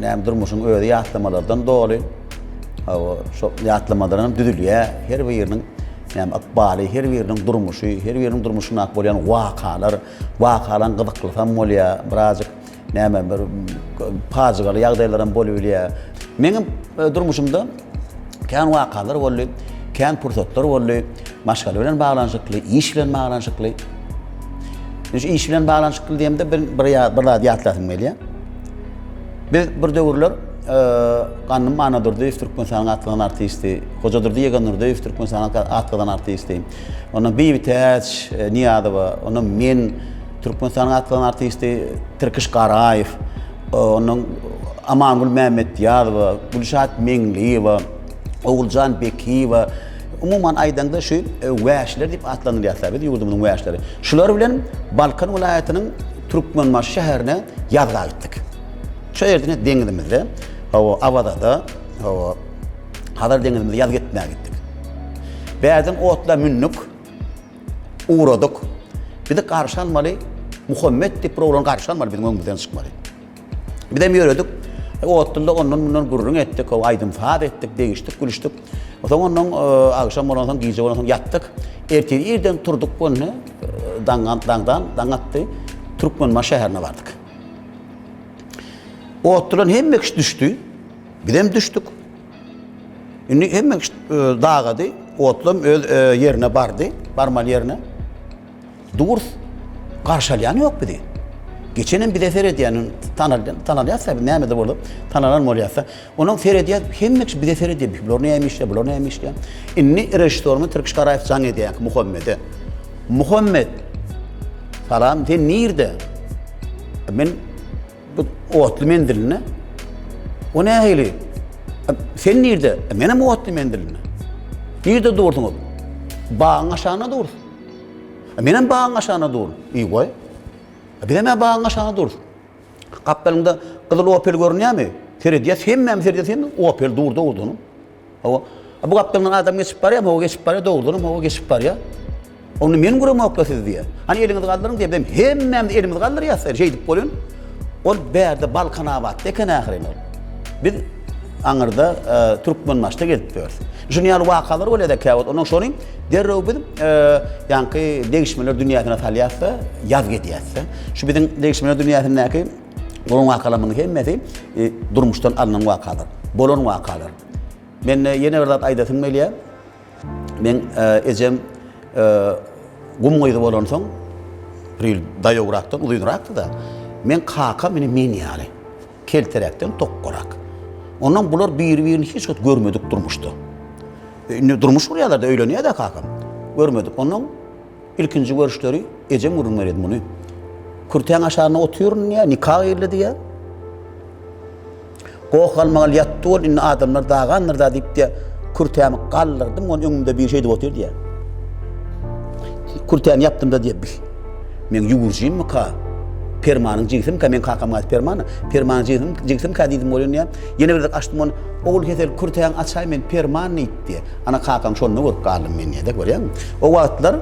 Näme durmuşyň özi ýatlamalardan doly. Hawa, şo ýatlamalaram düzülýär. Her biriniň näme ykbaly, her biriniň durmuşy, her biriniň durmuşynda bolýan wakalar, wakalaryň gyzyklysy hem bolýar. Birazjyk näme bir pajygaly ýagdaýlaram bolup bilýär. Meniň e, durmuşymda Kän wakalar boldy, kän pursatlar boldy, maşgala bilen baglanyşykly, iş bilen baglanyşykly. Şu iş bilen baglanyşykly diýemde bir bir bir zat ýatlasym gelýär. Biz bir döwürler e, Ganym Anadurdyýew Türkmenistanyň atlanan artisti, Hoja Durdy Ýeganurdyýew Türkmenistanyň atlanan artisti. Ondan Bibi Täç e, Niýazowa, ondan men Türkmenistanyň atlan artisti Tirkiş Garaýew, ondan Amangül Mämmetýazowa, Gülşat Meňliýewa, Oguljan Bekiýewa, umuman aýdaňda şu e, wäşler diýip atlandyrýarlar biz ýurdumyzyň wäşleri. Şular bilen Balkan welaýatynyň Türkmenbaşy şäherine ýazga gitdik. Şu ýerde deňizimizde, hawa, Awazada, hawa, Hazar deňizimizde ýaz gitmäge gitdik. Bäden otla mündik. ugradyk. Bizi garşy almaly, Muhammet diýip bir oglan garşy almaly, biziň öňümizden çykmaly. Bizem ýöredik. Otdulda ondan mundan gürrüň etdik, o aýdym saz etdik, degişdik, gülüşdik. Soň ondan e, agşam bolan soň, gije bolan soň ýatdyk. Ertir irden turdyk gönne, daňdan daňdan daň atdy. Türkmenbaşy şäherine bardyk. Otdulan hemme kişi düşdi. Bizem düşdük. Indi hemme kişi e, dagady. Otlam öz e, ýerine bardy, barmaly ýerine. Durs garşy alýan ýok bizi. Geçen hem bize seredýän, tanalýan, tanalýarsa biz näme de bolup, tanalan bolýarsa, onuň seredýär, hemme kişi bize seredýär. Bular näme işleýär, bular näme işleýär. Indi režissýorymyz Tirkiş Garaýew jaň edýär Muhammede. Muhammed, salam, sen nirde? Men Bu otly mendilini. O nähili? Sen nirde? E, men hem otly mendilini. Nirde durduňyz? Bagyň aşagyna dur. E, men hem bagyň aşagyna dur. Ey goý. E, biz hem bagyň aşagyna dur. Gapdalyňda gyzyl opel görünýärmi? Seredýär, hemmämiz seredýär, sen opel durdy ordan. Hawa. Bu gapdalyndan adam geçip barýar, hawa geçip barýar, dogrudanam hawa geçip barýar. Onda men guramokla siz diýýär. Hany eliňizi galdyryň diýýär. Biz hemmämiz elimizi galdyrýas diýýär. Şeýdip bolýan. Ol bärde Balkanabatda eken ahyry ol. Biz aňyrda e, Türkmenbaşda gezip ýörüs. Şuny ýaly wakalar bolýar-da käwagt. Ondan soň derrew biz e, ýaňky degişmeler dünýäsine salýas-da, ýazgy edýäs-de. Şu biziň degişmeler dünýäsindäki Bolan wakalarymyň hemmesi e, durmuşdan alnan wakalar, bolan wakalar. Men e, ýene bir zat aýdasym gelýär. Men e, ejem gum gyzy bolansoň, bir ýyl daýawrakdan, uzynrakdy-da, men kaka meni men ýaly, kelteräkden tokgarak. Ondan bular biri-birini hiç wagt görmedik durmuşda. Indi durmuş gurýarlar-da, öýlenýär-de kakam. Görmedik. Ondan Ilkinji görüşleri ejem gürrüň berýärdi muny. Kürtäň aşagynda otyryn diýýär, nika gyrly diýýär. Goh galmagal ýatdy ol, indi adamlar dagandyrda diýip diýýär. Kürtämi galdyrdym, ony öňümde biri şeýdip otyr diýýär. Kürtäni ýapdymda diýýär, bil. Meň ýüwürjimika, permanyň jigisimika, meň kakam gaýt permana, permanyň jigisimika diýdim bolýan diýýär. Ýene bir gezek açdym ony, ogul Hesel kürtäňi açaý men perman diýip diýýär. Ana, kakam şonda görüp galdym men diýýär-de, görýäňmi? O wagtlar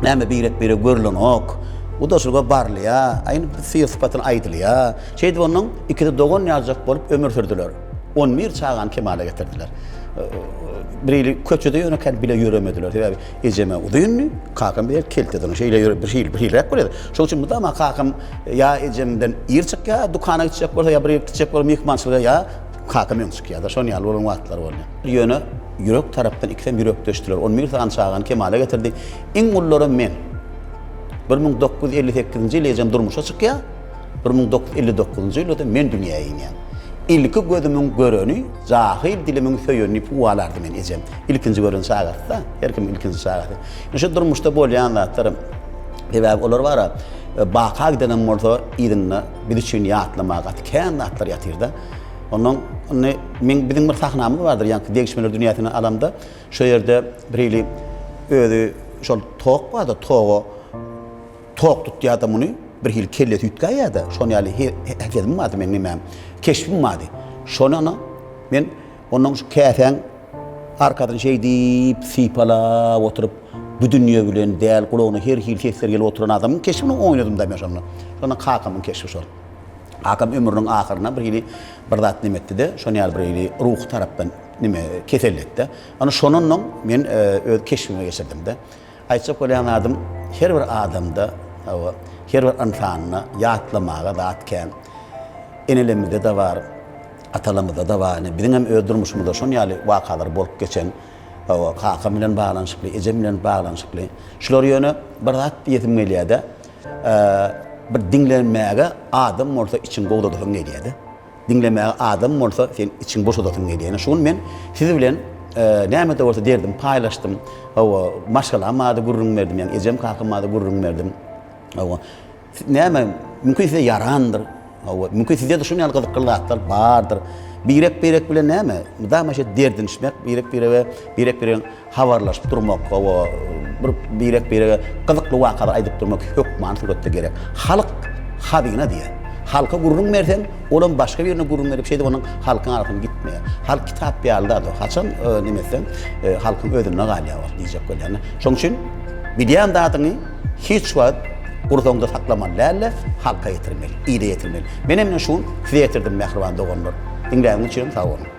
näme birek-birege görülenok, gudaçylyga barylýar, a indi bir syr-sypatyny aýdylýar. Şeýdip onuň ikisi dogan ýaljak bolup ömür sürdüler. On bir çagany kemala getirdiler. Birhili köçede ýönekäni bile ýöremediler, sebäbi ejem-ä uzyndy, kakam beýle keltedyr, şeýle ýöre birhiliräk bolýardy. Şonuň üçin mydama kakam ýa ejem bilen ir çykýar, dükana gitjek bolsa, ýa bir ýere gitjek bolsa myhmançylyga ýa Kakam öň çykýar-da, şonuň ýaly bolan wagtlary bolýar. Ýöne ýürek tarapdan ikisem ýürekdeşdiler. On bir sany çagany kemala getirdi. Iň ullaram men. Bir müň dokuz ýüz elli sekizinji ýyl ejem durmuşa çykýar, bir müň dokuz ýüz elli dokuzynjy ýylda-da men dünýä inýän. Ilki gözümiň göreni, jahyl dilimiň söýeni diýip uwalardy meni ejem. Ilkinji gören çagasy-da, her kimiň ilkinji çagasy. Ýöne şu durmuşda bolýan zatlar, sebäbi olar bar-a, baka gidenem bolsa, yzynda biz üçin ýatlamaga gaty kän zatlar ýatyr-da. Ondan indi men biziň bir sahnamyz bardyr, ýaňky degişmeler dünýäsini alamda, şo ýerde bir hili özi şol tok bardyr, toga tok tutýardy muny, bir hili kellesi üýtgäýýärdi, şon ýaly häsiýetim bardy meň nimäm, keşbim bardy. Şony ana men ondan şu käsäň arkasyny şeýdip sypalap oturyp, bu dünýe bilen däl, gulagyna her hili sesler gelip oturan adamyň keşbini oýnadym-da men şonda. Şonda kakamyň keşbi şol. Kakam ömrüniň ahyryna bir hili bir zat neme etdi-de, şonuň ýaly bir hili ruhy tarapdan neme, keselletdi. Ýöne şondan oň men öz keşbime geçirdim-de. Aýtjak bolýan zadym, her bir adamda, hawa, her bir ynsanda ýatlamaga zat kän. Enelerimizde-de bar, atalarymyzda-da bar. Ine, biziň hem öz durmuşymyzda şon ýaly wakalar bolup geçen. Hawa, kakam bilen baglanyşykly, ejem bilen baglanyşykly. Şular ýöne bir zat diýesim gelýär-de, Bir diňlemäge adam bolsa içiň gowzadasyň gelýärdi. Diňlemäge adam bolsa sen içiň boşadasyň gelýär. Şu gün men siz bilen näme-de bolsa derdim paýlaşdym. Hawa, maşgalam barada gürrüň berdim, ýagny ejem kakam barada gürrüň berdim. Hawa. Näme, mümkin size ýarandyr. Hawa, mümkin sizde-de şunuň ýaly gyzykly zatlar bardyr. Birek-birek bilen näme? Mydama şeýdip derdinişmek, birek-birege, birek-birege habarlaşyp durmak, hawa, bir birek-birege gyzykly wakalar aýdyp durmak hökmany suratda gerek. Halk hazyna diýýär. Halka gürrüň berseň, olam başga birine gürrüň berip, şeýdip onuň halkyň arasyndan gitmeýär. Halk kitap ýaly zat ol. Haçan neme etseň, halkyň özünde galýar ol, diýjek bolýan-da. Şonuň üçin bilýän zadyňy, hiç wagt gursaňda saklamaly dälde halka ýetirmeli, ile ýetirmeli. Menem ine şu gün size ýetirdim mähriban doganlar. Diňläniň üçin hem sag boluň.